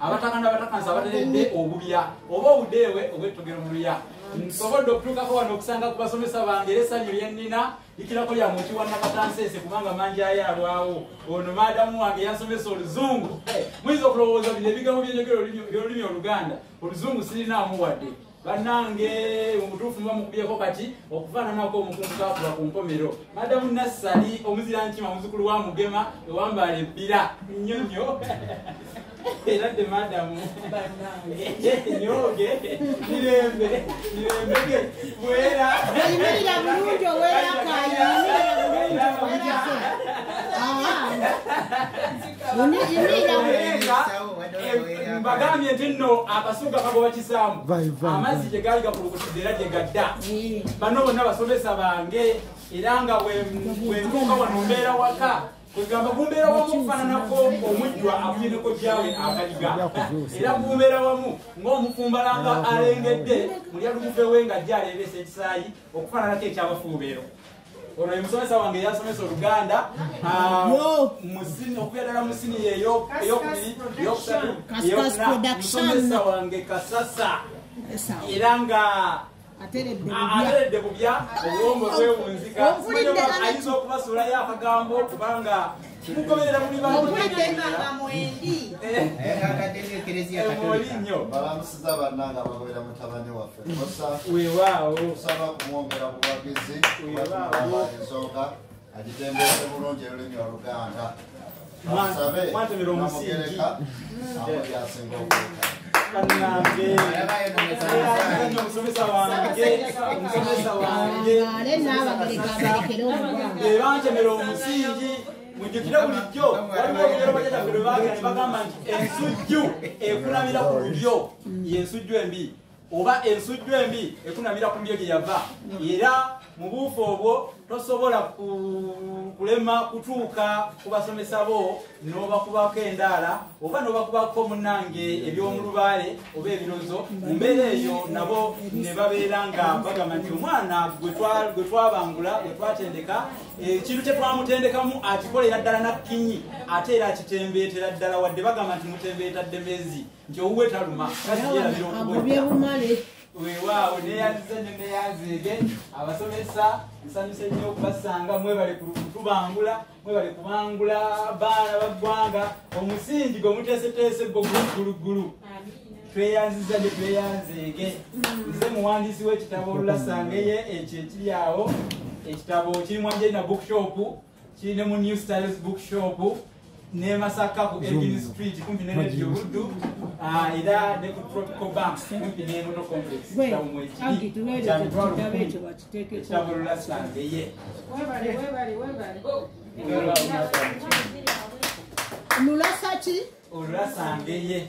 abataka n'abatakansi abateredde obubya oba obudeewe obwettogero mu luya nsobodde okutuukako wano okusanga ku basomesa bange era essanyu lye nnina likirako lya muki wa nakatanseese kubanga mangi ayo alwawo ono maadamu wange yansomesa oluzungu muyinza okulowooza bino ebigambo by'enjogera by'olulimi oluganda oluzungu sirinaamu wadde banange omutuufu muba mukubyeko kati okufaananako omukungu kakula ku nkomero madamu nassali omuzira nkima muzukulu wa mugema ewambaala ebbira nnyo nnyo era dde madamu nyoge mirembe mirembege bwera imirira bulungi owerakayo imirira bulungi owerakayo mbagambye nti nno akasuga kagoba kisaamu amazzi gye gaali gakulukutidde era gye gadda bano bonna basomesa bange era nga wentuuka wano mbeera waka kwegamba gumbeera wamu okufaananako omujjwa akulineko gyawe akaliga era gumbeera wamu ng'omufumbalanga alengedde mulya lugufe we nga gyareebeesa ekisaayi okufaananako ekyabafuubeero ono ye musomesa wange yasomesa oluganda ah, okubeera ddala musini yeyokubiri yokusatu yokunamusomesa wange kasasa era nga ateredde bubya obwongo bwewunzika ayinza okubasuulayo akagambo kubanga mugoberera muli bamulinnyo kusaba kumwongera buwagizi ensonga agitembeese bulungi olulimi oluganda asabe namugereka amuli asinga okuuka ebantemera omusingi mujukire bulijjo waliwo olugero bajajaffe lwe bagera ne bagamba nti ensujju ekulamira ku lulyo yensujju embi oba ensujju embi ekunamira ku mbyo gye yava era mu buufu obwo tosobola kulema kutuuka ku basomesa bo n'obakubako endaala oba n'obakubako munange eby'omulubaale oba ebirozo mu mbeera eyo nabo ne babeera nga bagamba nti omwana gwe twabangula gwe twatendeka ekintu kye twamutendekamu akikolera ddala nakkinyi ate era akitembeetera ddala wadde bagamba nti mutembeeta ddemezi nti owuwe taluma kasiyeabyokubyebumale wewaawo neyanziza nyo neyanziige abasomesa nsanyuse nnyo okubasanga mwebale kutubangula mwebale kubangula baana baggwanga omusingi gwe muteeseteese gwo gulugguluggulu tweyanziza nyo tweyanziige nze muwandiisi w'ekitabo olulasangeye ekyo ekiri awo ekitabo kiri mu angelina bookshop kiri ne mu new styles book shop ne masaka ku edin street kumpi ne radio buddu ah, era ne ku tropical bank kumpi ne moto complex kyamuekitaburula sande ye olulasa ki olulasa ngeye